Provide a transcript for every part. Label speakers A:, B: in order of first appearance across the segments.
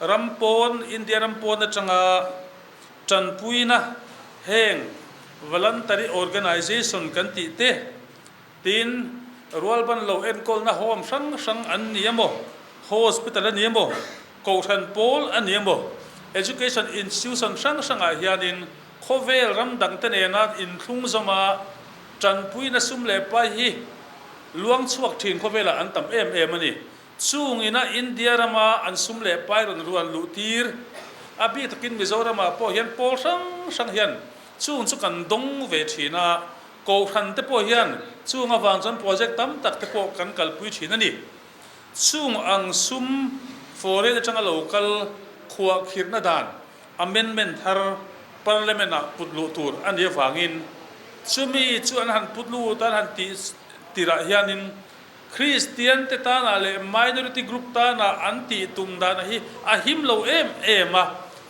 A: Ram pawn, India ram pawn atanga tanpuina heng Voluntary Organisation kan tih te, tin rualban lo enkawlna home hrang hrang an ni a maw, hospital a ni a maw, kohhran pawl a ni a maw, education institution hrang hrangah hianin khawvel ram dangte nena inthlung zawma tanpuina sum leh pai hi luangchhuak thin khawvelah an tam em em a ni. Chung ina India rama an sum leh pai rawn rual luh tir a bik takin Mizoramah pawh hian pawl hrang hrang hian chung chu kan dawng ve thin a, Kohhran te pawh hian chung avang chuan project tam tak te pawh kan kalpui thin a ni. Chung ang sum foreign atanga lo kal khuah khirhna dan amendment thar Parliament ah put luh tur a nih avangin chumi chu an han put lut a an han tih tirah hianin, Kristiante tânah leh minority group tânah an tih tum dânah hi a him lo em em a.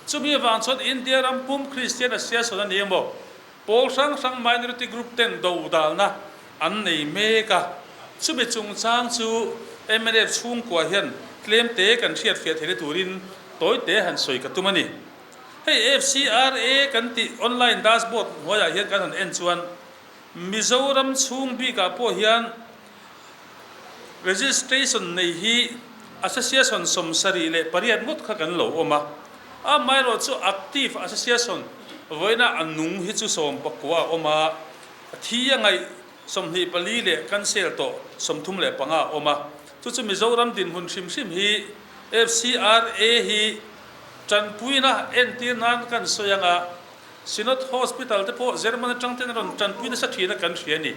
A: Chumi avang chuan India ram pum Kristian a sialsawn a ni e maw? Pawl hrang hrang minority group ten dodâlna an nei mêk a. Chumi chungchâng chu mnf chhungkua hian tlemte kan hriatfiah thei na turin tawite han sawi ka tum a ni. Hei FCRA kan tih online dashboard hnuaiah hian kan han en chuan Mizoram chhung bikah pawh hian registration nei hi association sawmsarih leh pariat ngawt kha kan lo awm a, amaherawh chu active association vawiinah a nung hi chu sawm pakua a awm a, thi a ngaih sawmhnih pali leh council tawh sawmthum leh panga a awm a, chu chu Mizoram dinhmun hrim hrim hi FCRA hi tanpuina entir nan kan sawi anga Synod Hospital te pawh German atang ten a rawn tanpui nasa thin a kan hria a ni.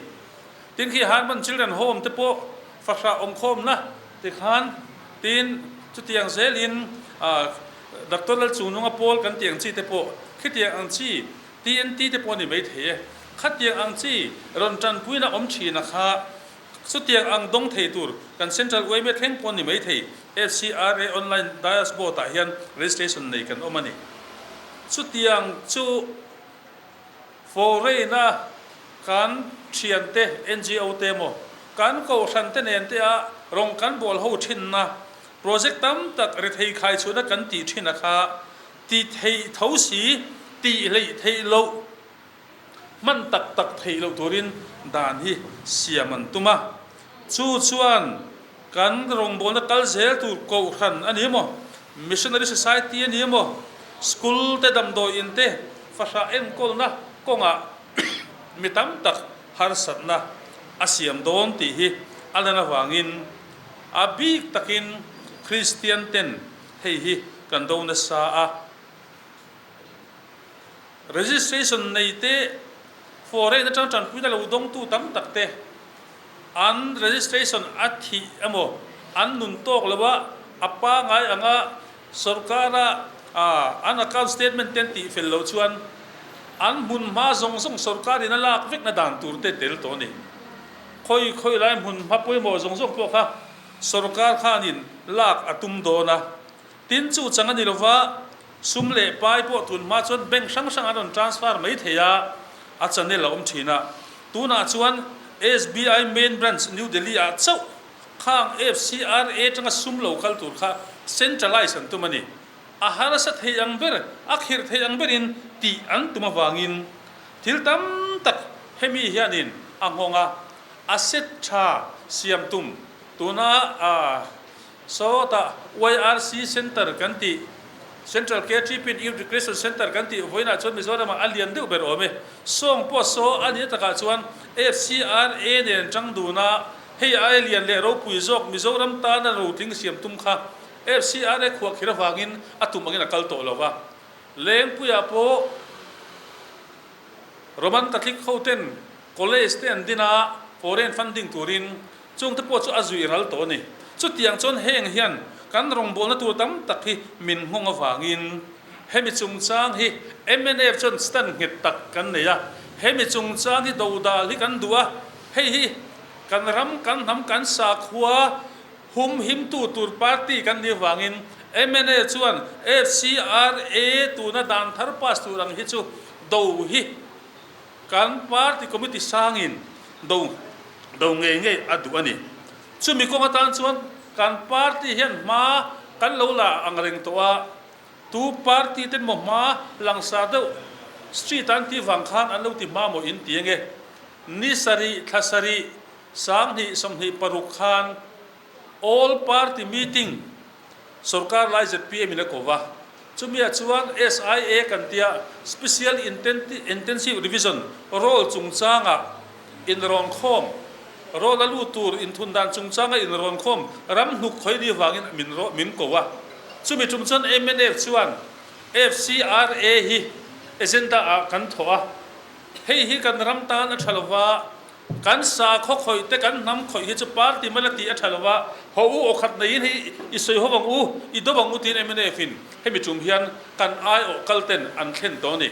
A: Tin, khi Harman Children Home te pawh fahrah awm khawm la ti khan, tin, chutiang zel in Doctor Lalchungnunga Paul kan tih ang chi te pawh khitiang ang chi TNT te pawh a ni mai thei e. Khatiang ang chi rawn tanpuina awm thin a kha, Chutiang ang dawng thei tur kan Central Uaimia thleng pawh ni mai thei FCRA online diasboard ah hian registration nei kan awm a ni. Chutiang chu Foreign a kan thian te, NGO te emaw kan kohhran te nen te ah rawng kan bual ho thin na project tam tak ri thei khai chhuah na kan tih thin a kha ti thei tho si, tih hleih theih loh. Hman tak tak theih loh turin dan hi siam an tum a, chu chuan kan rawngbawlna kal zel tur Kohhran a nih maw, Missionary Society a nih maw, School te damdawi in te, fahrah enkawlna kawngah mi tam tak harsatna a siam dawn tih hi a lan avangin a bik takin Kristian ten hei hi kan do nasa a. Registration nei te for rehna chang tanpuina lo dawngtu tam tak te an registration a thih emaw an nun tawk lo a, a pangai anga sorkara an account statement te an tih fel loh chuan an hmunhma zawng zawng sorkar in a lak vekna dan tur te tel tawh a ni. Khawi khawi lai hmunhma pawimawh zawng zawng pawh kha sorkar khan in lak a tum dawn a, Tin, chu chang a ni lova, sum leh pai pawh tun hma chuan bank hrang hrang an rawn transfer mai thei a, a channel a awm thin a. Tunah chuan SBI main branch New Delhi ah chauh khang FCR atanga sum lo kal tur kha centralize an tum a ni. A harsa thei ang ber, a khirh thei ang berin tih an tum avangin thil tam tak hemi hianin a nghawng a, a set tha siam tum tuna Sawtah YRC Centre kan tih, Central Care Treatment Youth Recreation Centre kan tih vawiin ah chuan Mizoramah a lian deuh ber awm e. Sawng pawh saw a ni na takah chuan HCRA nen chang dun a, hei aia lian leh ropui zawk Mizoram tana ro tling siam tum kha HCRA khuah khir avangin a tum angin a kal tawh lo va. Lengpuiah pawh Roman Catholic hoten college te an din a, foreign funding turin, Chungte pawh chu a zuih ral tawh a ni. Chutiang chuan heng hian kan rawngbawlna tur tam tak hi min nghawng avangin hemi chungchang hi mnf chuan stand nghet tak kan nei a, hemi chungchang hi do dal hi kan duh a, hei hi kan ram, kan hnam, kan sakhua hum himtu tur party kan nih avangin mnf chuan FCRA tuna dan thar pass tur ang hi chu do hi. Kan party committee sangin do do ngei ngei a duh a ni. Chumi kawng atan chuan kan party hian hma kan lo la ang reng tawh a, tu party ten maw hma langsar deuh street a an tih vang khan an lo ti hma maw in ti eng e. Ni sarih, thla sarih, sanghnih, sawmhnih paruk khan all party meeting, Sorkar lai zpm in a ko va, chumi ah chuan SIA kan tia a Special Intensive Revision role chungchang ah inrawnkhawm role a lut tur inthun dan chungchang a inrawnkhawm ram hnuk khawini vang in min min ko a, chumi tum chuan MNF chuan FCRA hi agenda ah kan thawh a, hei hi kan ram tan a tha lo va, Kan sakhaw khawihte kan hnam khawih hi chu party man a tih a tha lo va, Haw u, awkhat neiin hei i sawi haw ang u, i dawp ang u tiin MNF in hemi tum hian kan aiawh kal ten an thlen tawh a ni.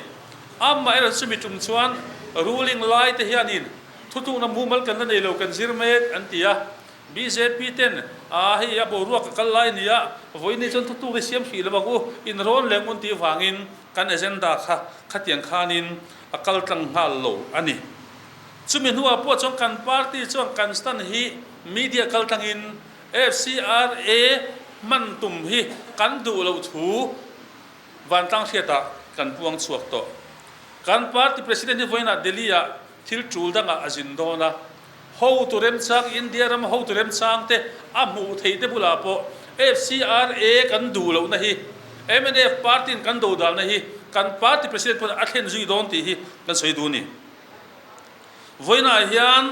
A: Amah erawh chu chumi tum chuan ruling lai te hianin thutukna mumal kan la nei lo kan zir mek an ti a, bjp ten ah hei a boruak a kal lai nia, vawiini chuan thutuk hi siam hrih lo ang u, inrawn leng un tih vangin kan agenda kha khatiang khanin a kal tlang nghal lo a ni. Chumi hnuah pawh chuan kan party chuan kan stand hi media kal tlangin FCRA hman tum hi kan duh loh thu Vantlang hriatah kan puang chhuak tawh. Kan party president hi vawiinah Delhi-ah thil tul dangah a zin dawn a. Hotu remchang, India ram hotu remchangte a hmuh theihte bulah pawh FCRA kan duh lohna hi, MNF party-in kan dohdalna hi kan party president pawn a thlen zui dawn tih hi kan sawi duh a ni. Vawiinah hian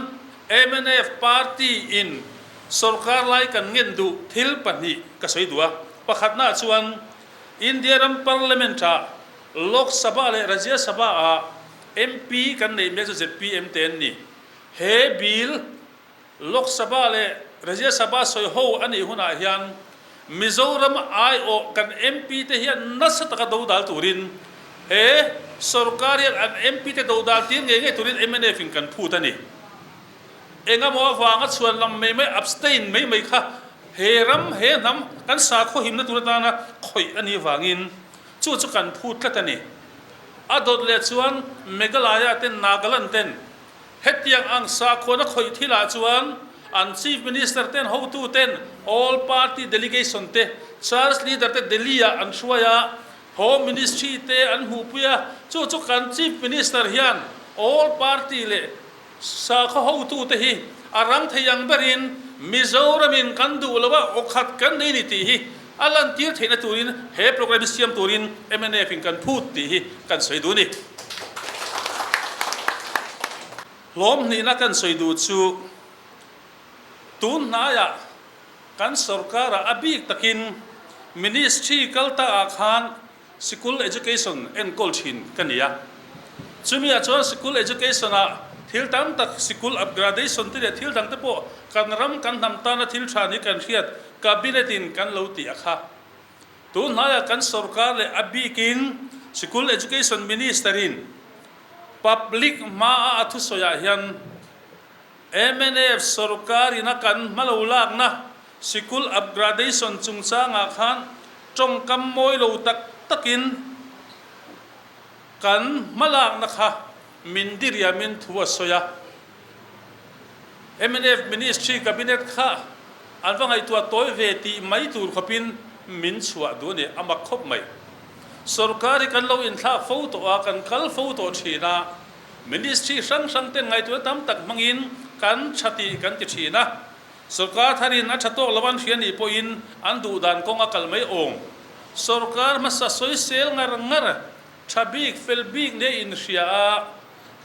A: mnf party in sorkar lai kan ngen duh thil pahnih ka sawi duh a, pakhatnaah chuan India ram parliament ah Lok Sabha leh Rajya Sabha ah MP kan neih mek chu zpm te an ni. He bill Lok Sabha leh Rajya Sabha sawi ho a nih hunah hian Mizoram aiawh kan MP te hian nasa taka do dal turin he sawrkar hian an MP te do dal tir ngei ngei turin mnf in kan phut a ni. Engemaw avanga chhuan lam mai mai abstain mai mai kha he ram he hnam kan sakhaw himna tur atana khawih a nih vangin chu chu kan phut tlat a ni. A dawt leh chuan Meghalaya ten Nagaland ten Hetiang ang sakhuana khawih thil ah chuan an Chief Minister ten, hotu ten, all party delegation te, church leader te Delhi ah an hruai a, Home Ministry te an hmuhpui a, chu chu kan Chief Minister hian all party leh sakhaw hotu te hi a rang thei ang berin Mizoram in kan duh lo a, awkhat kan nei ni tih hi A lantir theihna turin he programme hi siam turin mnf in kan phut tih hi kan sawi duh a ni. Hlawm hnihna kan sawi duh chu tunhnaiah kan sorkara a bik takin Ministry kal takah khan Sikul education enkawl thin ka ni a, chumi ah chuan sikul education ah thil tam tak sikul upgradation te leh thil dang te pawh kan ram kan hnam tana thil tha ni kan hriat cabinet in kan lo ti a kha. Tun hnai ah kan sorkar leh a bik in sikul education minister in public hma a a thusawi ah hian, MNF sorkar in a kan hma lo lakna sikul upgradation chungchangah khan tawngkam mawi lo tak takin kan hma lakna kha min diriamin thu a sawi a. MNF ministry cabinet kha an va ngaihtuah tawi ve tih mai tur khawpin min chhuah duh a ni, a mak khawp mai. Sorkar hi kan lo inthlak fo tawh a, kan kal fo tawh thin a. Ministry hrang hrangten ngaihtuahna tam tak hmangin kan tha tih kan ti thin a, sawrkar tharin a tha tawk lo an hria nih pawhin an duh dan kawng a kal mai awm. Sawrkar hmasa sawisel ngar ngar, tha bik fel bik leh inhria a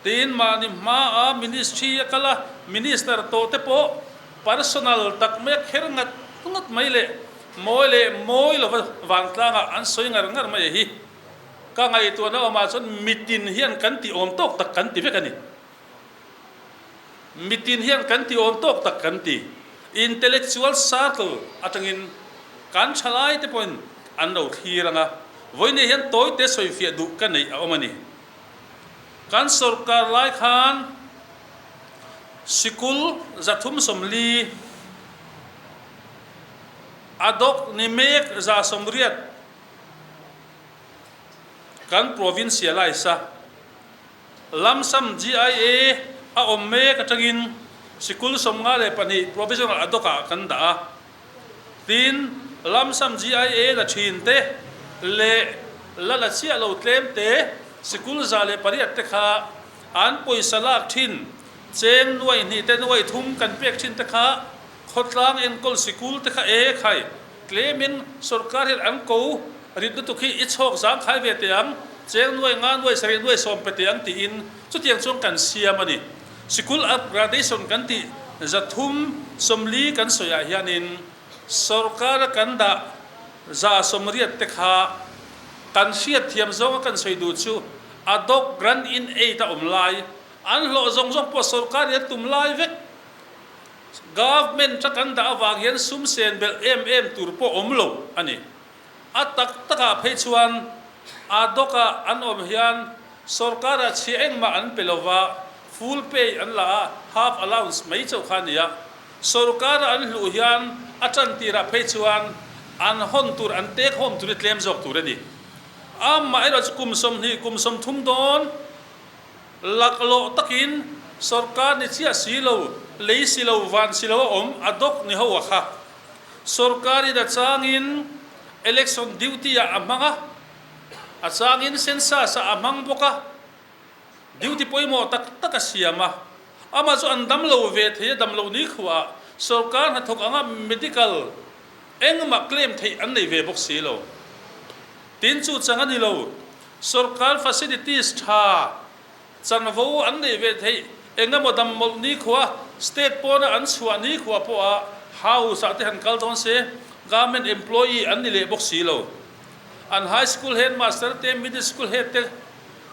A: tiin mahni hmaa Ministry a kal a, Minister tawh te pawh personal tak mai a kher ngat ngat mai leh mawi leh mawi lova vantlang ah an sawi ngar ngar mai a hi. Ka ngaihtuahna awmah chuan mitin hian kan ti awm tawk tak kan ti vek a ni. Mitin hian kan ti awm tawk tak kan ti. Intellectual circle atangin kan thalaite pawhin an lo thlir ang a, vawiinah hian tawite sawifiah duh ka neih a awm a ni. Kan sorkar lai khan sikul za thum sawmli, a dawk ni mek za sawmriat, Kan provincialize a, lamsam GIA a awm mek atangin sikul sawmnga leh pahnih provisional a dawkah kan dah a. Tin, lamsam GIA la thin te leh la la chiah lo tlem te sikul za leh pariat te kha an pawisa lak thin cheng nuaih hnih te nuaih thum kan pek thin te kha, Khawtlang enkawl sikul te kha ee khai tlem in sorkar hian an ko rit lutuk hi i chhawk zang khai ve teh ang, cheng nuai nga nuai sarih nuai sawm pe teh ang tih in chutiang chuan kan siam a ni. Sikul up gradation kan tih zathum sawmli kan sawi ah hian in sorkar a kan dah za sawmriat te kha kan hriat thiam zawng a kan sawi duh chu adawk grant in aid a awm lai an hlawh zawng zawng pawh sorkar in an tum lai vek. Government-a kan dah avang hian sumsen belh em em tur pawh awm lo a ni. A tak takah phei chuan a dawka an awm hian sorkara chhia engmah an pe lo va, full pay an la a, half allowance mai chauh kha a ni a. Sorkara an hluh hian a tan tirah phei chuan an hawn tur, an take home tur hi tlem zawk tur a ni. Amah erawh chu kum sawmhnih, kum sawmthum dawn. Lak lawh takin sorkar ni chiah silo, lei silo, van silo a awm a dawk ni ho a kha. Sorkar in a changin election duty ah a hmang a, a changin census ah a hmang bawk a, duty pawimawh tak tak a siam a. Ama chu an dam lo ve thei a, dam lo nikhua ah sorkar hnathawk anga medical engmah claim theih an nei ve bawk silo. Tin chu chang a ni lo. Sawrkar facilities tha changvo an neih ve theih engemaw dammawlh nikhua, state pawna an chhuah nikhua pawha house ah te han kal dawn se, government employee an ni leh bawk si lo. An high school headmaster te, middle school head te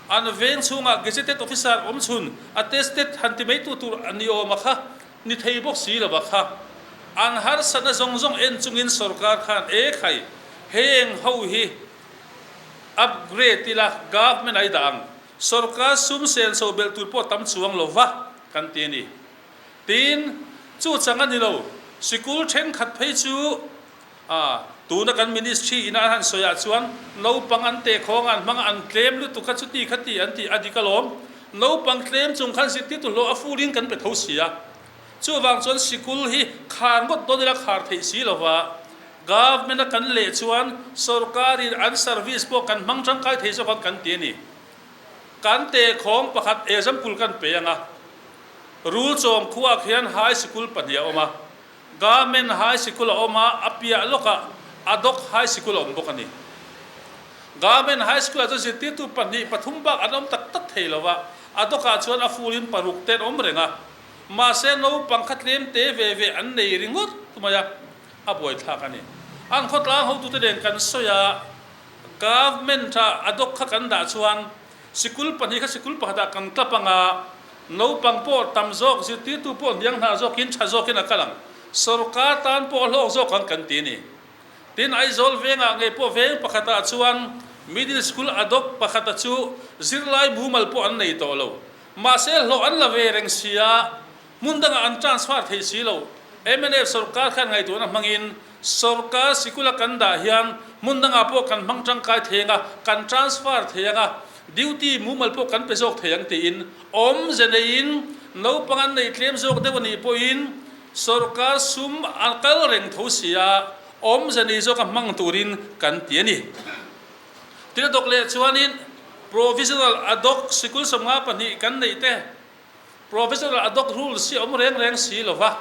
A: an veng chhungah gazetted officer awm chhun attested han ti meitu tur a ni awm a kha. Ni thei bawk si lo va kha. An harsa na zawng zawng en chung in sorkar khan e khai heng ho hi upgrade ila government ai dah ang sorkar sum sen so belh tur pawh tam chuang lo va kan ti ani. Tin chu chang ani lo sikul thenkhat phei chu. A, tuna kan ministry in an han sawi ah chuan naupang an tehkhawng an hmang an tlem lutuk kha chuti kha ti an tih a dik alawm. Naupang tlem chung khan zikti tuhlawh a fur in kan pe tho si a. Chu vang chuan sikul hi khar ngawt dawn ila khar theih si lo va. Government a kan leh chuan sorkar in an service pawh kan hmang tangkai thei zawk ang kan ti a ni. Kan tehkhawng pakhat example kan pe ang a, Rulchawng khuak hian high sikul pahnih a awm a. Garment High Sikul a awm a, a piah lawkah Adok High Sikul a awm bawk a ni. Garment High Sikul-ah chuan zirtirtu pahnih, pathum bak an awm tak tak thei lo a, Adok-ah chuan a furin paruk te an awm reng a. Mahse, naupang kha tlem te ve ve an nei ringawt mai a, a buaithlak a ni. An khawtlang hotute nen kan sawi a, Garment-ah Adok kha kan dah chuan Sikul pahnih kha sikul pakhatah kan tla panga naupang pawh tam zawk, zirtirtu pawh hniang hna zawkin, tha zawkin a kal ang. Sorkar tan pawh a hlawk zawk ang kan ti a ni. Tin, Aizawl vengah ngei pawh veng pakhatah chuan middle school a dawp pakhata chu zirlai mumal pawh an nei tawh lo. Mahse hlawh an la ve reng sia Hmun dangah an transfer theih si lo. Mnf sorkar khian ngaih tuahna hmangin sorkar sikul a kan dah hian hmun dangah pawh kan hmang tangkai thei ang a, kan transfer thei ang a, duty mumal pawh kan pe zawk thei ang tiin awmze neiin naupang an neih tlem zawk deuh a nih pawhin sorkar sum a kal reng tho si a, awmze nei zawk a hmang turin kan ti a ni. Tin a dawk leh chuanin provisional a dawk sikul sawmnga pahnih kan neih te Provisional Adhoc Rules hi awm reng reng si lo va,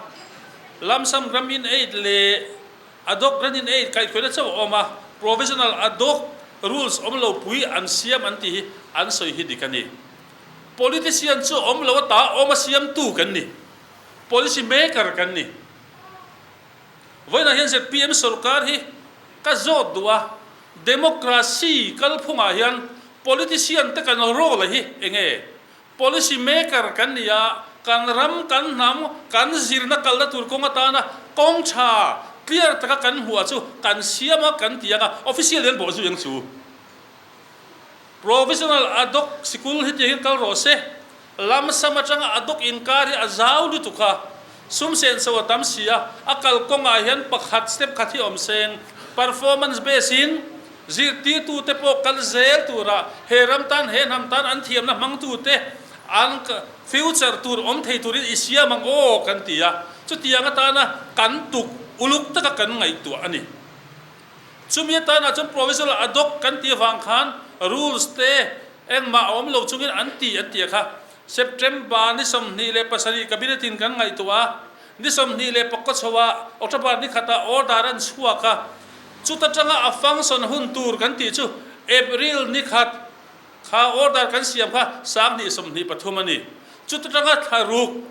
A: Lump Sum Grant in Aid leh Adhoc Grant in Aid kaihkhuaina chauh a awm a, Provisional Adhoc Rules awm lo pui an siam an tih hi an sawi hi dik a ni. Politician chu awm lo a ta a, awma siamtu kan ni, Policy Maker kan ni. Vawiinah hian zpm sorkar hi ka zawt duh a, Democracy kalphungah hian Politician te kan rawk leh hi eng nge Policy maker kan ni a, kan ram, kan hnam, kan zirna kal na tur kawng atana kawng tha clear taka kan hmuh ah chu kan siam a kan ti ang a, official hian bawh zui ang chu. Provisional adawk sikul hetiang hian kal rawh se, lamsam atanga adawk inkar hi a zau lutuk a, sumsen chho a tam si a, a kal kawngah hian pakhat step khat hi awm seng, performance base in, Zirtirtute pawh kal zel tura he ram tan he hnam tan an thiamna hmangtute an future tur awm thei turin i siam ang aw kan ti a. Chutiang atana kan tuk uluk taka kan ngaihtuah a ni. Chumi atanah chuan provisional a dawk kan ti avang khan rules te engmah a awm lo chungin an ti an ti a kha. September ni sawmhnih leh pasarih Cabinet-in kan ngaihtuah a, ni sawmhnih leh pakua chhoa October ni khata order an chhuak a, chuta tanga a function hun tur kan tih chu April ni khat kha order kan siam kha sanghnih sawmhnih pathum a ni. Chuta tanga thla ruk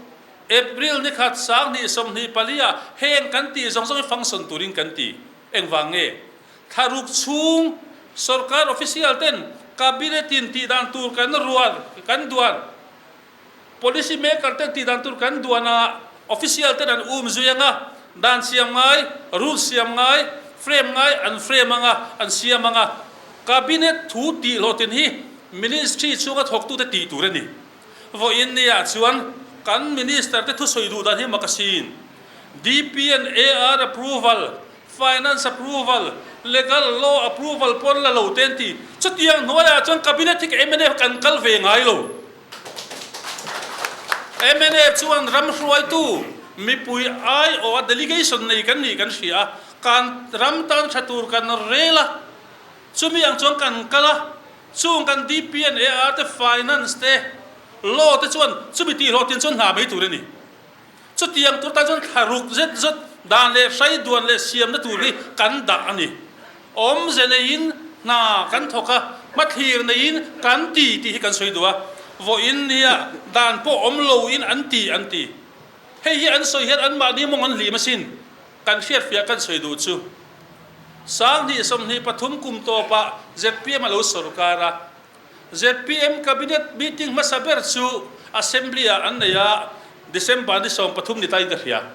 A: April ni khat sanghnih sawmhnih palia heng kan tih zawng zawngin function turin kan ti. Engvang nge Thlaruk chhung sorkar official ten cabinet in tih dan tur kan rual kan duan, policy maker ten tih dan tur kan duan a, official ten an um zui anga, dan siam ngai, rules siam ngai, frame ngai an frame anga, an siam anga, cabinet thu tih hlawhtin hi ministry chhunga thawktu te tih tur a ni. Vawi in ni ah chuan kan minister te thusawi duh dan hi makasin DPN AR approval Finance approval, legal, law approval pawh an la lo te an ti. Chutiang hnuaiah chuan cabinet hi ka mnf kan kal ve ngai lo. Mnf chuan ram hruaitu mipui aiawha delegation nei kan nih kan hria a, kan ram tan hre tur kan rel a, chumi ang chuan kan kal a, chung kan DPNAR te, Finance te, Law te chuan chumi tihhlawhtin chuan hna mai tur a ni. Chutiang tur tan chuan thla ruk zet zet dan leh hrai duan leh siamna tur hi kan dah a ni. Awmze neiin hna kan thawk a, hmathlir neiin kan ti tih hi kan sawi duh a, vawiin nia dan pawh awm loin an ti an ti. Hei hi an sawi hian anmahni mawng an hlim asin kan hriatfiah kan sawi duh chu. Sanghnih sawmhnih pathum kum tawpah zep piam a lo sawrkar a. zpm Cabinet meeting hmasa ber chu Assembly-ah an nei a, December ni sawm pathum ni ta inka hria.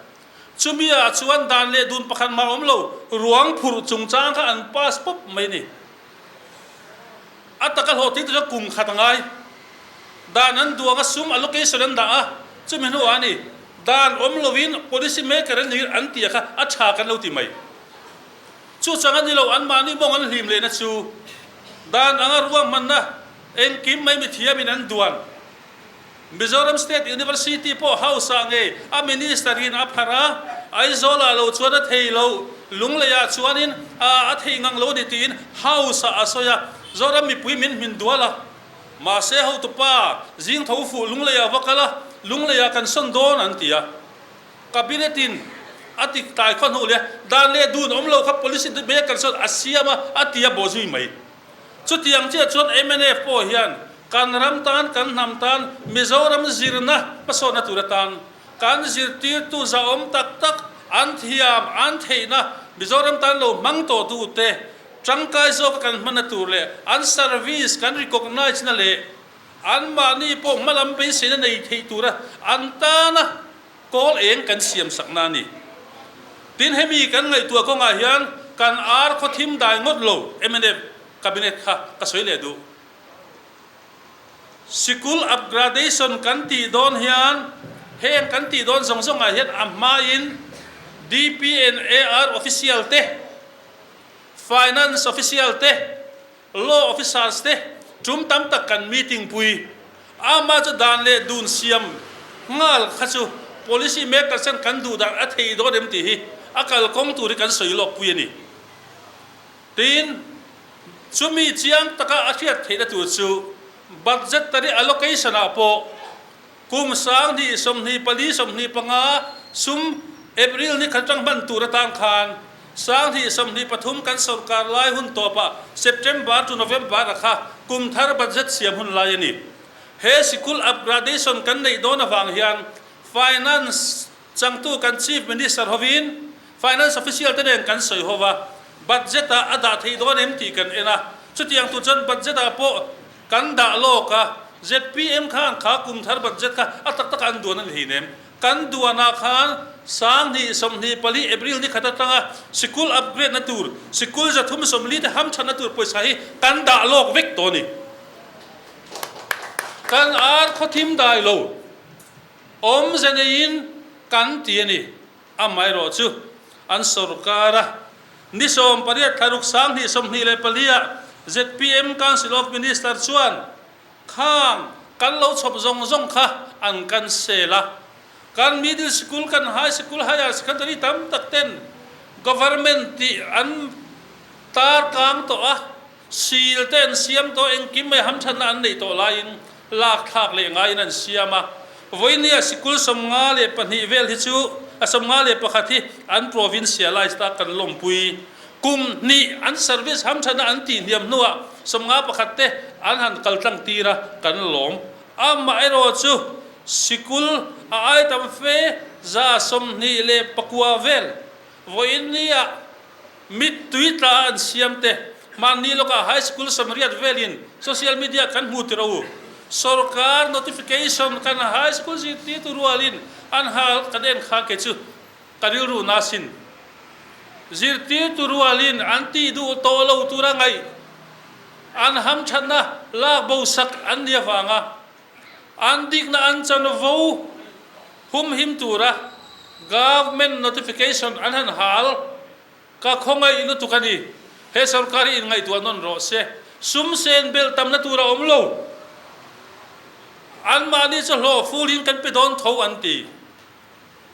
A: Chumi ah chuan dan leh dun pakhat mah awm lo, ruang phurh chungchang kha an pass pawp mai ni. A taka hlawh thil te chu kum khat a ngai. Dan an duang a sum allocation an dah a, chumi hnuah a ni. Dan awm lo in policy maker an nih an tih kha a tha kan lo ti mai. Chu chang a ni lo, anmahni mawng an hlim leh na chu. Dan anga ruahmanna engkim mai mithiamin an duan. Mizoram State University pawh House ah ngei a Minister in a pharh a, Aizawlah lo chuan a thei lo, Lungleiah chuanin ah a thei ngang lo a ni tiin House ah a sawi a, Zoram mipui min hmin dual a. Mahse hotupa zingtho fuh Lungleiah va kal a, Lungleiah kan sawn dawn an ti a. Cabinet in a tik tlai khaw hnu leh dan leh dun awm lo kha policy bek kan sawn a siam a, a ti a baw zui mai. Chutiang chiah chuan mnf pawh hian kan ram tan kan hnam tan Mizoram zirna hmasawnna tur atan kan zirtirtu zahawm tak tak an thiam an theihna Mizoram tan lo hmang tawhtu te tangkai zawka kan hmanna tur leh an service kan recognise na leh Anmahni pawh hmalam beiseina nei theih tura an tana kawl eng kan siamsakna a ni. Tin, hemi kan ngaihtuah kawngah hian kan ar khawthim dai ngawt lo mnf Cabinet kha ka sawi leh duh. Sikul upgradation kan tih dawn hian heng kan tih dawn zawng zawngah hian a hmain DPNAR official te, Finance official te, Law officers te tum tam tak kan meeting pui a, mah chu dan leh dun siam nghal kha chu policy makers hian kan duh dan a thei dawn em tih hi a kal kawng tur hi kan sawi lawk pui a ni. Tiin, chumi chiang taka a hriat theihna tur chu budgetary allocation-ah pawh Kum, Sang, Ni, Sawmhnih, Pali, Sawmhnih, Panga, Sum, April, ni khat atang hman tur atang khan Sanghnih, Sawmhnih, Pathum kan sorkar lai hun tawpah September to November a kha kum thar budget siam hun lai a ni. He sikul upgradation kan neih dawn avang hian finance, Changtu kan Chief Minister hovin Finance Official te nen kan sawi ho va, Budget ah a dah theih dawn em tih kan en a, chutiang tur chuan Budget ah pawh kan dah lawk a, zpm khan kha kum thar Budget kha a tak takah an duan a ni thei nem. Kan duan ah khan Sanghnih, Sawmhnih, Pali, April ni khat atanga Sikul upgrade na tur, Sikul zathum sawmli te ham that na tur pawisa hi kan dah lawk vek tawh a ni. Kan ar khawthim dai lo. Awmze neiin kan ti a ni. Amaherawh chu, an sorkara ni sawm pariat thlaruk sang hnih sawmhnih leh pahnia ZPM Council of Minister chuan khang kan lo chhawp zawng zawng kha an kan sel a. Kan middle school, kan high school, higher secondary tam tak ten government tih an tarkang tawh a. Sil te an siam tawh, engkim mai ham thatna an nei tawh laiin lak thlak leh ngaiin an siam a. Voinia sikul sawmnga leh pahnih vel hi chu a sawmnga leh pakhat hi an provincialized a kan lawmpui. Kum hnih an service ham thatna an tih hniam hnuah sawmnga pakhat te an han kal tlangtir a kan lawm. Amah erawh chu sikul a ai tam fe za sawmhnih leh pakua vel Vawiin ni ah mit tui tla an siam te, hmaan ni lawkah high school samriat velin social media kan hmu tirh u. Sorkar notification kan high school zirtirtu rualin an hal kan en kha ke chu ka rilru nasin zirtirtu rualin an tih duh tawh lo tura ngaih an hamthatna lak bosak an ni avanga An dikna an chan vo humhim tura government notification an han hal. Ka khawngaih lutuk a ni. He sorkar hi inngaihtuah nawn rawh se. Sumsen belh tamna tur a awm lo. Anmahni chu hlaw fulin kan pe dawn tho an ti.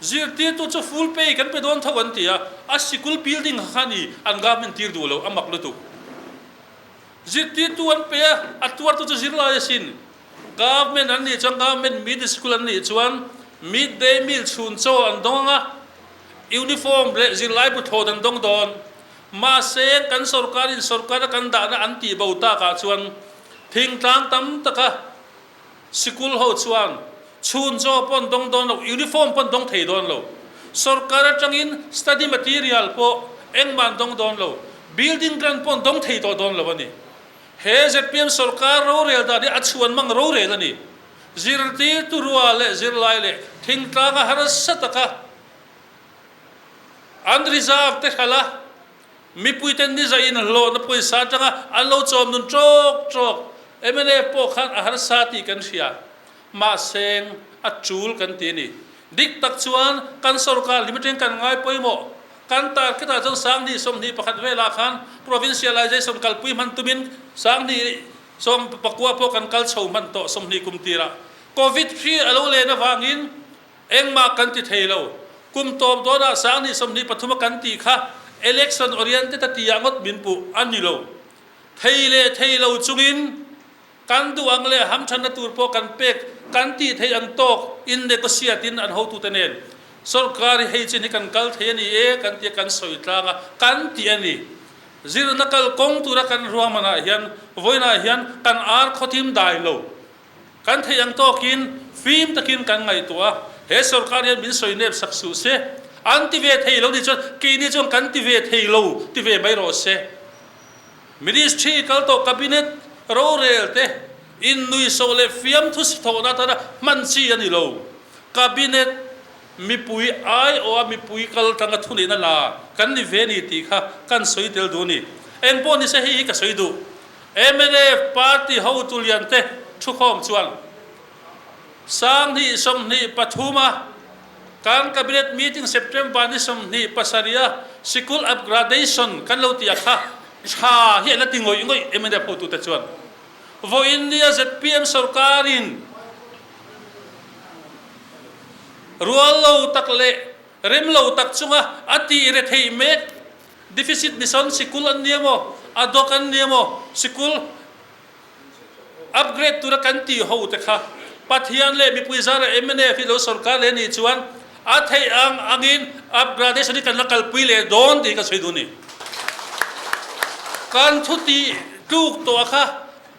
A: Zirtirtu chu ful pay kan pe dawn tho an ti a. A sikul building kha khan i an government tir duh lo, a mak lutuk. Zirtirtu an pe a, a tuartu chu zirlai a sin. Government an nih chuan government mid school an nih chuan mid day meal chhun chaw an dawng ang a, uniform leh zirlai bu thlawt an dawng dawn. Mahse kan sorkarin sorkara kan dahna an tih bo takah chuan thingtlang tam taka Sikul ho chuan chhun chaw pawn dawng dawn lo, uniform pawn dawng thei dawn lo. Sawrkar atangin study material pawh engmahn dawng dawn lo. Building grant pawn dawng thei tawh dawn lo a ni. He zpm sawrkar rorel dan hi a chhuan mang rorel a ni. Zirtirtu rual leh zirlai leh thingtlanga harsa taka an reserve tehral a. Mipuiten nizai in hlawhna pawisa atanga an lo chawm nun trawk trawk. Mla pawh khan a harsa tih kan hria. Mahse, a tul kan ti a ni. Dik tak chuan kan sorkar hlum atang kan ngai pawimawh. Kan target ah chuan Sanghnih sawmhnih pakhat vel ah khan provincialisation kalpui hman tumin Sanghnih sawm pakua pawh kan kal chho hman tawh sawmhnih kum tirah. Covid hi a lo len avangin, Engmah kan ti thei lo. Kum tawp dawnah sang ni sawmhnih pathuma kan tih kha election oriented a ti ah ngawt min puh a ni lo. Thei leh thei lo chungin kan duh ang leh ham thanna tur pawh kan pek kan tih theih ang tawk in negotiate in an hotu te nen sorkar hi hei chin hi kan kal thei a ni e kan ti a kan sawi tlang a kan tih a ni. Zirna kal kawng tura kan ruahmanah hian vawiinah hian kan ar khawthim dai lo. Kan theih ang tawkin fim takin kan ngaihtuah a, he sorkar hian min sawi nep sak suh se. An ti ve thei lo nih chuan keini chuan kan ti ve thei lo ti ve mai rawh se. Ministry i kal tawh cabinet, rorel te, innuihsawh leh fiamthu si thawhna atana hman chi a ni lo. Cabinet. Mipui ai aw a mipui kal tanga thunihna la kan ni ve ni tih kha kan sawi tel duh a ni. Engpawh nise hei hi ka sawi duh, mnf party hotu lian te thu khawm chuan sanghnih sawmhnih pathum a kan cabinet meeting September ni sawmhnih pasarih a sikul upgradation kan lo ti a kha tha hi a la ti ngawih ngawih mnf hotute chuan vawiin nia zpm sorkarin Rual lo tak leh rem lo tak chunga a tih re theih mek deficit ni sawn sikul an nia maw, a dawk an nia maw, sikul upgrade tura kan tih ho te kha Pathian leh mipui zara MNF-i lo sawrkar leh nih chuan a theih ang angin upgradation hi kan la kalpui leh dawn tih ka sawi duh a ni. Kan thutih tluk tawh a kha.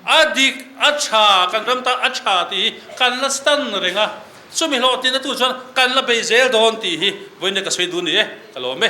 A: A dik, a tha, kan ram ta a tha tih hi kan la stan reng a, chumi hlawh tina tu chuan kan la bei zel dawn tih hi vawiin ka sawi dun ni e, ka lawm e.